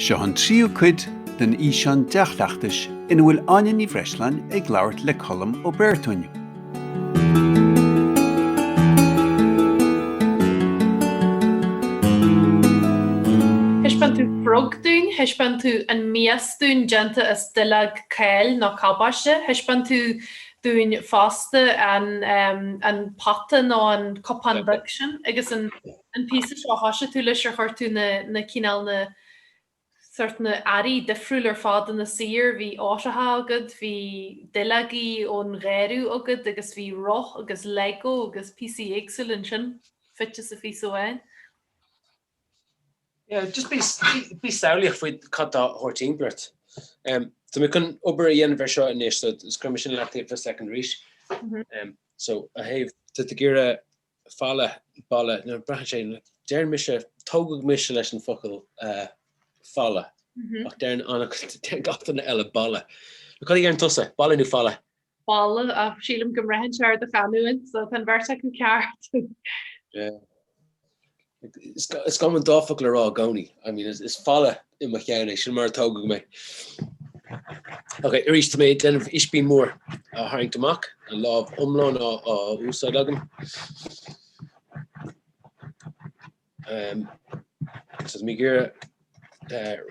Seo an tríú cuid den fhíseán dea-chleachtais ina bhfuil Áine Ní Bhreisleáin ag labhairt le Colm Ó Bréartúin. Thaispeáin tú frog dúinn, thaispeáin tú an mias dúinn déanta as duilleog cáil nó cabáiste, thaispeáin tú dúinn fosta an pota nó an cupán beag sin agus an an píosa seo a thosaigh tú leis ar chuir tú na cineál na sort na hearraí difriúil ar fad ina saothar, bhí eitrí agad, bhí duilleogaí ón gheimhreadh agad agus bhí roth agus lego agus píosaí éagsúil ansin fite sa phíosa amháin. Yeah, just bí bí samhlaíoch faoi cad tá a thabhairt fhéin duit. Em, tá mé chun obair a dhéanamh air seo anois so so cuirfidh mé sin ar leataobh fá second arís. Em, so, an taobh, tá tú ag iarraidh falla, balla, nó braitheann sé, deireann mise, tógadh mise leis an bhfocal falla ach deireann an, deireann gach duine eile balla. Cad a dheireann tusa, balla nó falla? Balla ach sílim go mbraitheann sé ar do chanúint so tá an bheirt acu ceart. Is gá dom an dá fhocal a rá i gcónaí. I mean, is falla i mo cheann é, sin mar a tógadh mé. Ok, arís, tá mé ag déanamh ispín mhór a tharraingt amach, an lámh iomlán á úsáid agam. Tá mé ag iarraidh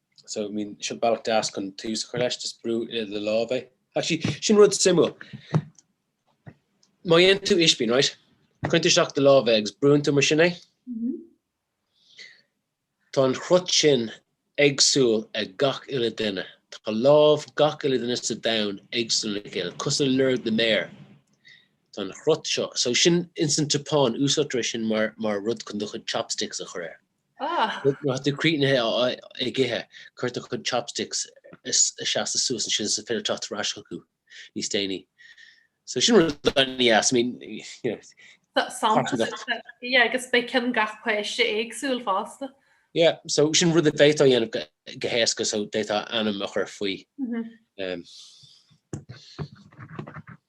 So I mean seo bealach deas chun tús a chur leis, just brú i do lámh é. Actually sin rud suimiúil, má dhéanann tú ispín right, cuireann tú isteach i do lámh é agus brúann tú mar sin é, tá an chrut sin éagsúil ag gach uile duine, tá lámh gach uile duine sa domhan éagsúil lena chéile, cosúil le lorg na méar, tá an chrut seo, so sin ins an tSeapáin úsáidtear é sin mar rud chun do chuid chopsticks a chur air. Ah! Má tá tú críochnaithe ag ithe, cuireann tú do chuid chopsticks ag seasamh suas ansin is féidir teacht ar ais chucu níos déanaí. So sin rud an-dheas, I mean, you know. Tá samples, yeah, agus beidh ceann gach páiste éagsúil fosta. Yeah, so sin rud a bhféadfá a dhéanamh go héasca, so d'fhéadfá ainm a chur faoi.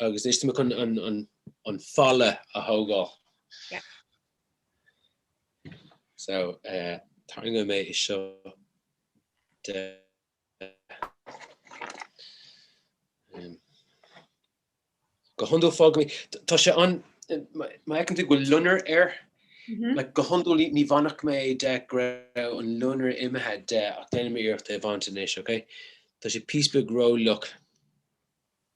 Agus ansin timpeall an falla a thógáil. So, tarraingeoidh mé é seo de. Go hiondúil fágfaidh mé, tá sé an, má fheiceann tú go bhfuil loinnir air, like go hiondúil ní bhainfeadh mé é de go raibh an loinnir imithe de ach déanfaidh mé iarracht é a bhaint anois, ok. Tá sé píosa beag ró-fhliuch.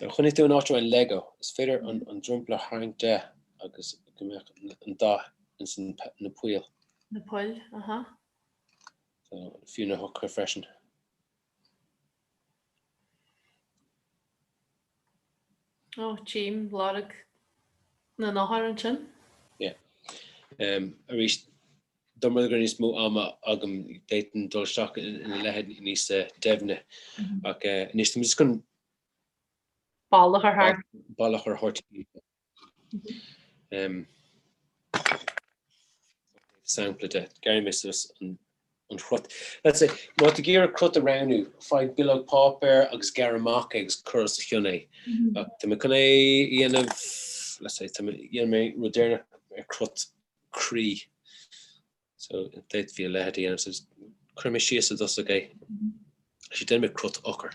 Nuair a choinnigh tú in áit a raibh Lego, is féidir an dromchla a tharraingt de agus go mbeadh an dath ins na poill. Na poill, aha. So, fiú na heochracha freisin. Ó, tím lorg na n-eochracha ansin. Yeah. Arís, Dá mbeadh níos mó ama agam d'fhéadfainn dul isteach ina leithéid níos doimhne ach anois tá mé just chun bealach a thabhairt sampla de. Gearrfaidh mé suas an cruth. That's it. Má tá tú ag iarraidh cruth a roghnú, faigh bileog páipéir agus gearr amach é agus cur os a chionn é. Tá mé chun é a dhéanamh, let's say, déanfaidh mé rud deireanach ar chruth croí. So d'fhéadfaí a leithéid a dhéanamh, so cuirfidh mé síos i dtosach é, actually déanfaidh mé cruth eochair.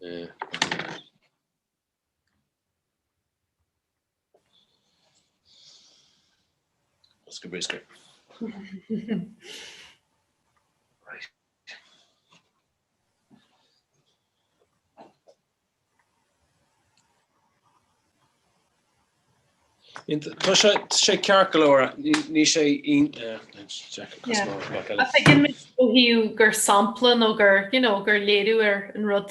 Eh. Is go briscéir. Tá sé sé ceart go leor níl sé Tá sé gur sampla nó gur gur léiriú ar an rud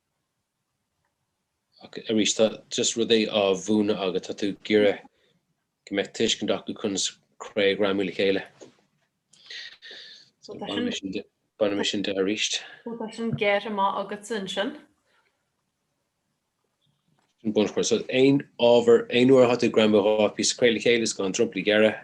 Ach arís, má tá tú ag just rud é á mhúineadh agat, tá tú ag iarraidh go mbeadh tuiscint acu conas cré a ghreamú le chéile. So tá sin, bainfidh mé sin de arís. So tá sin gearrtha maith agatsa ansin. Sin bunchloch. So aon ábhar, aon uair atá tú ag greamú dhá phíosa cré le chéile is gá an dromchla a ghearradh.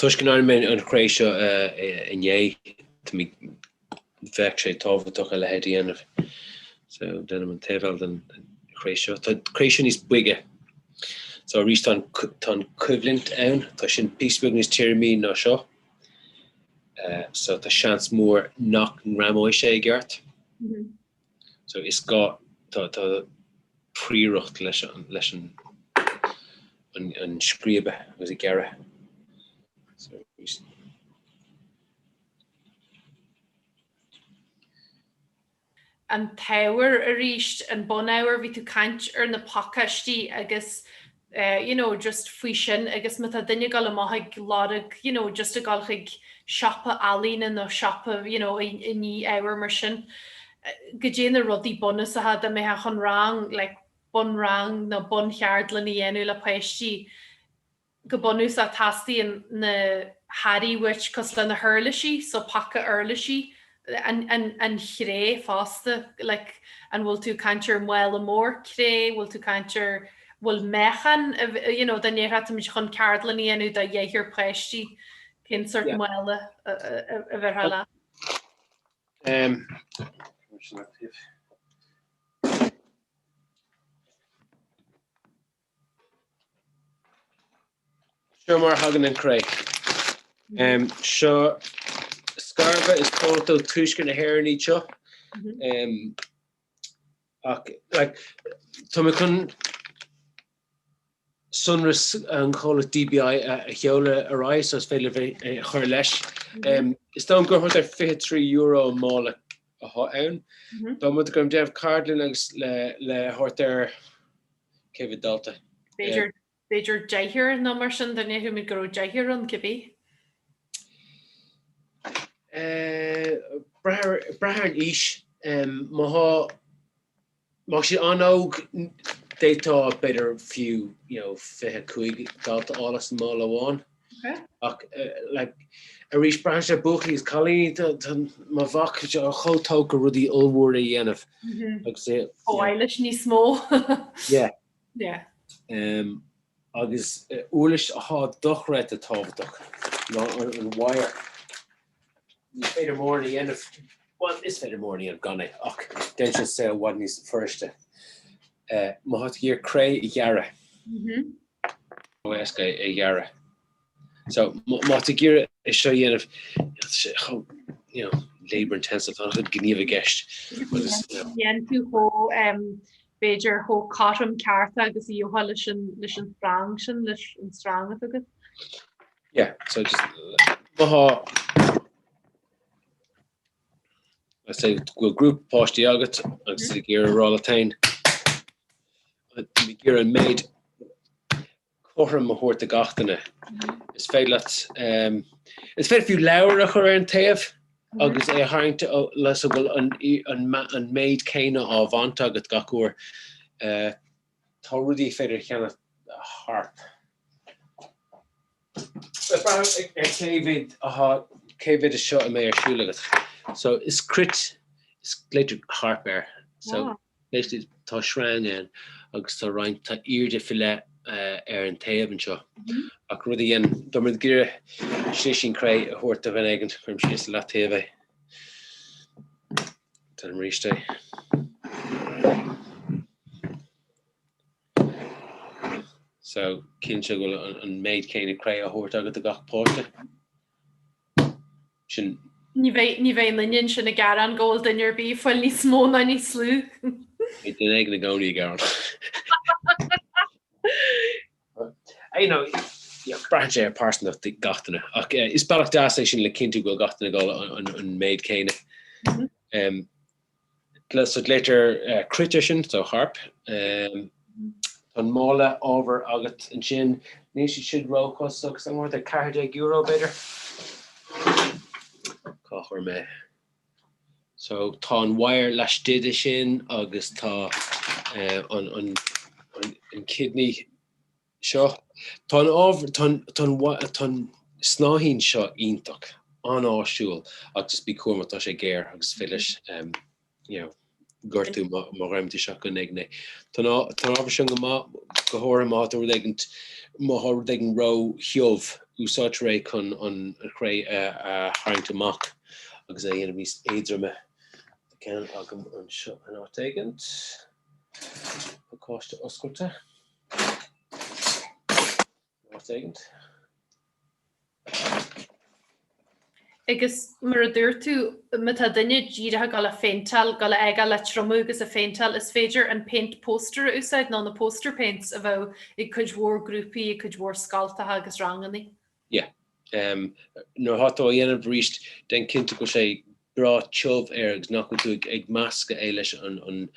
Toisc gur réitigh mé an chré seo inné, bheadh sé tábhachtach a leithéid a dhéanamh. So, déanaim an taobh eile den chré seo. Tá an chré seo níos boige. So, arís tá an coimhlint ann, tá sin píosa beag níos tirime ná seo. So, tá seans mór nach ngreamóidh sé i gceart. So is gá, tá, tá tábhacht leis an, leis an, an, an scríobadh agus an gearradh. So is. An t-ábhar arís, an bunábhar, bhí tú ag caint ar na pacáistí agus eh you know just faoi sin agus má tá duine ag dul amach ag lorg you know just ag dul chuig siopa ealaíne nó siopa you know i ndíol ábhar mar sin go dté na rudaí bunúsacha dá mbeifeá chun rang like bunrang nó buncheardlann a dhéanamh le páistí go bunúsach teastaíonn na hearraí uait cosúil le na huirlisí so paca uirlisí an chré fosta, like an bhfuil tú ag caint ar mhála mór cré, bhfuil tú ag caint ar, bhfuil meáchan, you know dá mbeimis chun ceardlann a dhéanamh do dheichniúr páistí, cén sórt mála a bhéarfá leat? Seo mar a thagann an chré. Seo scarbha is comhlacht ó thuaisceart na hÉireann iad seo. Tá mé chun sonraí an chomhlacht DBI a sheoladh ar aghaidh so is féidir libh é a chur leis. Is dóigh liom gur thart ar €23 an mála atá ann. Dá mba rud é go raibh mé ag déanamh ceardlainne le thart ar cé mhéad dalta ar. b'fhéidir deichniúr nó mar sin, dá ndéarfaimis go raibh deichniúr ann cibé. ag brath ar an aois, má tá siad an-óg d'fhéadfá b'fhéidir fiú fiche cúig dalta a fháil as an mála amháin. Ach like arís braitheann sé buachaillí is cailíní má bhíonn siad chomh tógtha rudaí ollmhóra a dhéanamh agus úsáid i bhfad níos mó. Yeah. Yeah. Um, agus uirlis atá dochreidte tábhachtach ná an wire. Ní féidir mórán a dhéanamh, bhuel is féidir mórán a dhéanamh gan é ach déanann sé an saol i bhfad níos fuiriste. Eh, má tá tú ag iarraidh cré a ghearradh. Mhm. níos éasca é a ghearradh. So, má tá tú ag iarraidh é seo a dhéanamh, tá sé chomh, you know, labour intensive, tá an-chuid gníomh i gceist agus, you know. Ní bheidh sé chomh, em, b'fhéidir chomh cothrom ceart agus a gheobhthá leis an, leis an srang sin, leis an srang atá agat. Yeah, so just, má thá, Is é go bhfuil grúpa páistí agat agus tú ag iarraidh a rá leat féin, ag iarraidh an méid cothrom a thabhairt do gach duine, is féidir leat, is féidir fiú leabhar a chur ar an taobh agus é a tharraingt leis sa go bhfuil an méid céanna á bhaint agat gach uair. Tá rudaí féidir a cheannach, harp. Cé mhéad de seo an mbeidh ar siúl agat? So, is cruit, so glaoitear harp air. So, basically tá sreang ann agus tá roinnt, tá airde faoi leith ar an taobh anseo ach rud éigin, dá mbeadh tú ag iarraidh slisín cré a thabhairt do dhuine éigin, cuirim síos ar leataobh é. Deirim arís é. So, cinnte go bhfuil an, an méid céanna cré á thabhairt agat do gach páiste. Sin. Ní bheidh, ní bheidh éinne ansin ag gearán go bhfuil duine ar bith ag fáil níos mó ná níos lú. Beidh duine éigin i gcónaí ag gearán. Braitheann sé ar phearsantacht gach duine, ach is bealach deas é sin le cinntiú go bhfuil gach duine ag fáil an méid céanna. So glaoitear cruit air sin, so harp. Tá an mála ábhair agat ansin. Níl siad sin ró-chostasach, thart ar €14 b'fhéidir? Cá chuir mé? So tá an wire laistigh de sin agus tá an kidney seo. Tá an snáthaid seo iontach, an-áisiúil agus bí cúramach, tá sé géar agus féach leis, you know. gortú má dhéanann tú seaicín éigin. Tá an t-ábhar sin go maith go háirithe má tá rud éigint má tá rud éigin ró thiubh, úsáidtear é chun an chré a tharraingt amach agus é a dhéanamh níos éadroime. Tá ceann agam anseo in áit éigin. Pacáiste oscailte. Agus mar a dúirt tú, má tá duine díreach ag dul á phéinteáil, dul á fhágáil le triomú agus á phéinteáil, is féidir an péint póstaer a úsáid nó na poster paints a bheadh ag cuid mhór grúpaí, ag cuid mhór scoileanna agus rangannaí. Yeah. Nuair atá tú á dhéanamh arís, déan cinnte go bhfuil sé breá tiubh air agus nach bhfuil tú ag meascadh é leis an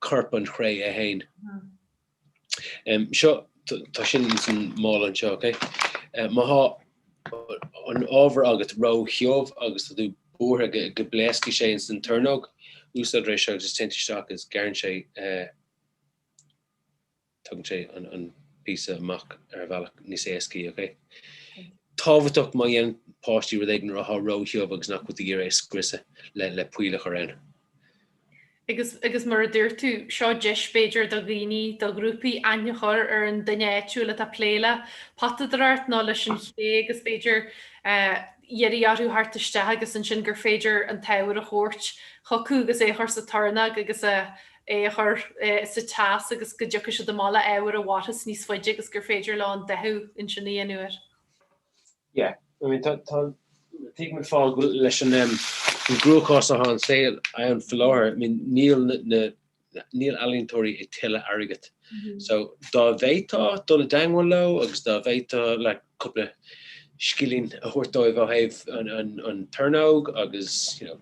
gcorpán cré é féin. So, tá sin ins an mála anseo, ok? Má thá an t-ábhar agat ró-thiubh agus tá tú buartha go bpléascfaidh sé ins an tornóg, úsáidtear é seo agus téann sé isteach agus gearrann sé, tugann sé an píosa amach ar bhealach níos éascaí, ok? Tábhachtach má dhéanann páistí rud éigin athá ró-thiubh agus nach bhfuil tú ag iarraidh é scriosadh le poill a chur ann. Agus, agus mar a dúirt tú, seo deis b'fhéidir do dhaoine, do ghrúpaí aithne a chur ar an duine áitiúil atá ag plé le potadóireacht nó leis an chré agus b'fhéidir iarraidh orthu theacht isteach agus ansin gur féidir an t-ábhar a thabhairt chucu agus é a chur sa tornóg agus é a chur sa teas agus go dtiocfaidh siad abhaile le ábhar a mhairfeas níos faide agus gur féidir leo an dathú ansin a dhéanamh air. Yeah, I mean tá, tá, tuigim gabháil leis an um, an gcruachás atá an saol ann faoi láthair, I mean níl na, na, níl ealaíontóirí ag tuilleadh airgead. So dá bhféadfá dul i dteangmháil leo agus dá bhféadfá like cúpla scilling a thabhairt dóibh ó thaobh an, an, an tornóg agus, you know,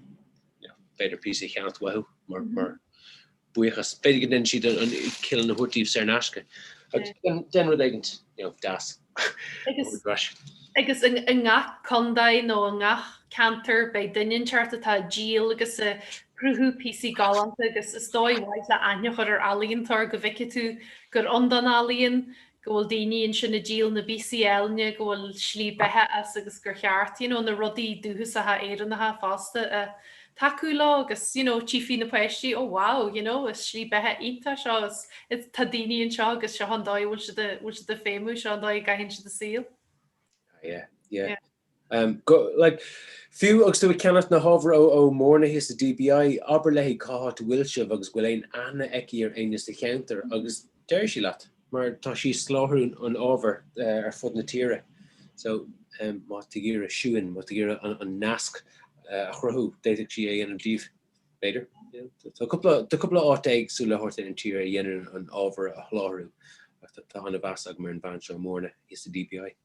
you know, b'fhéidir píosa a cheannacht uathu mar, mar, buíochas. B'fhéidir go ndéanann siad an kiln a thabhairt díobh saor in aisce. Déan rud éigint deas. Agus i ngach contae nó i ngach ceantar beidh duine thart atá ag díol agus ag cruthú píosaí galánta agus is dóigh mhaith é le aitheantas a thabhairt ar ealaíontóir go bhfeicfidh tú gur ann don ealaíon, go bhfuil daoine ansin ag díol na bpíosaí áille go bhfuil slí beatha as agus gur cheart you know na rudaí dúchasacha Éireannacha fosta a tacú leo agus you know tchífidh na páistí oh wow you know is slí beatha iontach so tá daoine anseo agus seo an dóigh a bhfuil siad a bhfuil siad ag feidhmiú seo an dóigh a gcaitheann siad a saol yeah. Um, like, fiú agus tú ag ceannacht na hábhair ó Mhóirne sa DBI, abair léi cá háit a bhfuil sibh agus bhfuil aon aithne aici ar éinne sa cheantar agus déarfaidh sí leat, mar tá sí ag sláthrú an ábhair ar fud na tíre. So, má tá tú ag iarraidh suan, má tá tú ag iarraidh an nasc a chruthú, d'fhéadfadh sí é a dhéanamh díobh, b'fhéidir. Tá cúpla, tá cúpla áit éagsúil thart ar an tír a dhéanann an ábhar a shláthrú ach tá an-mheas agam ar an bhean seo, Móirne, sa DBI.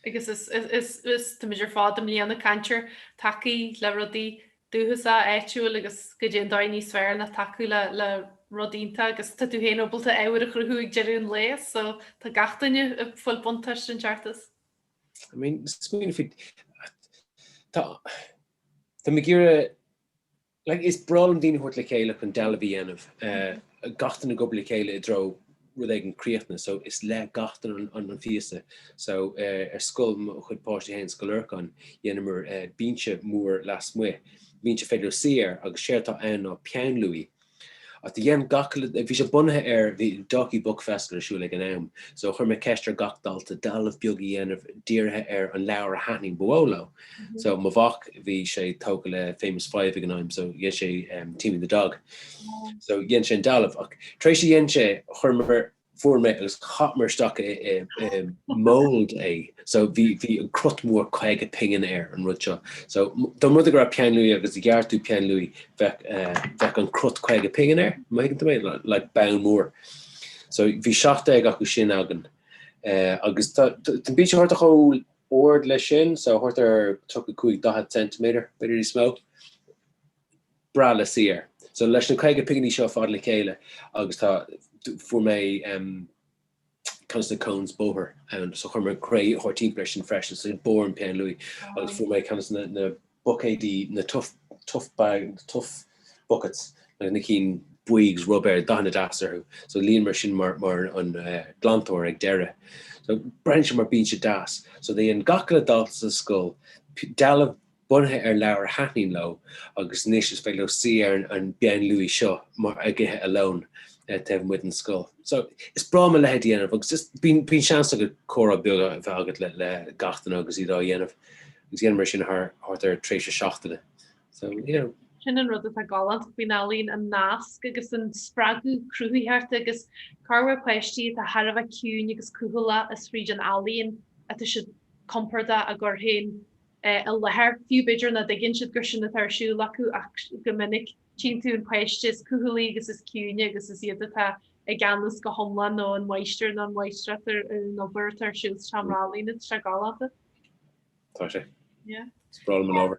Agus is tá muid ar fad i mbliana ag caint ar tacú le rudaí dúchasa, áitiúil agus goidé an dóigh níos fearr ná tacú le rud iontach agus tá tú féin ábalta ábhair a chruthú ag deireadh an lae so tá gach duine ag fáil buntáiste i ndáiríre. I mean smaoineamh faoi, tá, tá mé ag iarraidh. Like, is breá liom daoine a thabhairt le chéile chun dealbh a dhéanamh, gach duine ag obair le chéile i dtreo rud éigin críochnaithe, so is le gach duine an phíosa. So ar scoil, mo chuid páistí féin, Scoil Lorcáin, dhéanamar binse mór lasmuigh, binse féidir leat suí air agus séard atá ann ná peann luaidhe ach do dhein gach, bhí sé bunaithe ar, bhí Dalkey Book Festival ar siúl ag an am, so chuir mé ceist ar gach dalta dealbh beag a dhéanamh dírithe ar an leabhar a thaitnigh ba mhó leo. So mo mhac bhí sé tógtha le famous five ag an am so dhein sé Timmy the dog. So dhein sé an dealbh ach tar éis a dhein sé chuireamar fuair mé agus chaith mé isteach i mould é so bhí bhí an crot mór caoga pingin air an rud seo. So dá muid ag rá peann luí agus a ghearr tú peann luí bheadh bheadh an crot caoga pingin air má thuigeann tú mé like beann mór. So bhí seacht déag acu sin againn agus tá an bíonn sé thart chomh ard leis sin, so thart ar tríocha cúig, daichead centimetre, b'fhéidir níos mó, breá le suí air. So leis na caoga pinginí seo fada le chéile agus tá, fuair mé em conas na cones bóthair ann, so chuir mé cré thart timpeall air sin freisin, so barr an peann luaidhe agus fuair mé conas na, na, buicéidí na tough bags, tough buckets na cinn bhuí ruibéir dathanna deas orthu so líon mar sin mar an glantóir ag deireadh so braitheann sé mar bíonn siad deas so dhein gach uile dalta sa scoil dealbh bunaithe ar leabhar a thaitníonn leo agus anois is féidir leo suí ar an bpeann luaidhe seo mar ag ithe a lón taobh amuigh den scoil so is breá liom a leithéid a dhéanamh agus just bíonn bíonn seans agat comhrá beag a bheith agat le le gach duine agus iad á dhéanamh agus dhéanamar sin thar tréimhse seachtaine so you know. sin an rud atá galánta faoin ealaín, an nasc agus an spreagadh cruthaitheachta agus go háirithe páistí atá thar a bheith ciúin agus cúthaile is fríd an ealaín atá siad compordach á gcur féin i láthair, fiú b'fhéidir nach dtuigeann siad gur sin atá ar siúl acu ach go minic tchíonn tú an páiste is cúthalaí agus is ciúine agus is iad atá i gceannas go hiomlán nó an máistir nó an mháistreás ar an obair atá ar siúl sa seomra ealaíne, tá sé galánta. Tá sé. A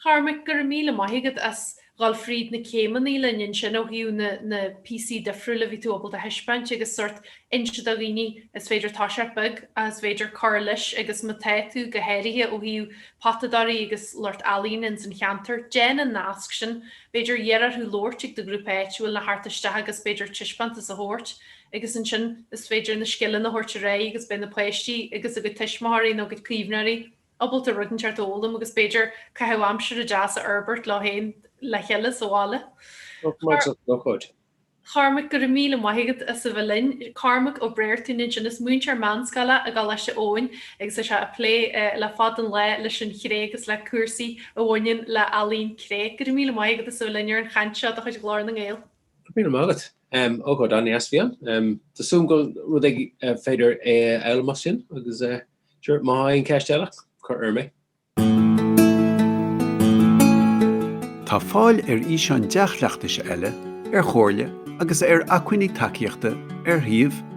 Chormaic, go raibh míle maith agat as dhul fríd na céimeannaí linn ansin ó thaobh na na píosaí difriúla a bhí tú ábalta a thaispeáint agus sórt inse do dhaoine is féidir toiseacht beag agus b'fhéidir cur leis agus ma tá tú, go háirithe ó thaobh potadóirí agus lucht ealaíne ins an cheantar, déan an nasc sin, b'fhéidir iarraidh orthu labhairt ag do ghrúpa áitiúil nó theacht isteach agus b'fhéidir taispeántas a thabhairt. agus ansin is féidir na scileanna a thabhairt ar aghaidh agus beidh na páistí agus a gcuid tuismitheoirí nó a gcuid caomhnóirí ábalta rud inteacht a fhoghlaim agus b'fhéidir caitheamh aimsire deas a fhorbairt leo féin le chéile sa bhaile. Cormac, Go raibh míle maith agat as a bheith linn. Cormac Ó Bréartúin ansin, is múinteoir meánscoile i gColáiste Eoin agus é ag plé le fada an lá leis an chré agus le cúrsaí a bhaineann le ealaín cré. Go raibh míle maith agat as a bheith linn ar an chaint seo de chuid Ghlór na nGael. Míle maith agat. Ócáid an-deas a bhí ann. Tá súil agam gur rud é gur féidir é a fhoghlaim as sin agus sure má tá aon cheist eile cuir orm í. Tá fáil ar fhíseáin dea-chleachtais eile ar chomhairle agus ar acmhainní tacaíochta ar shuíomh.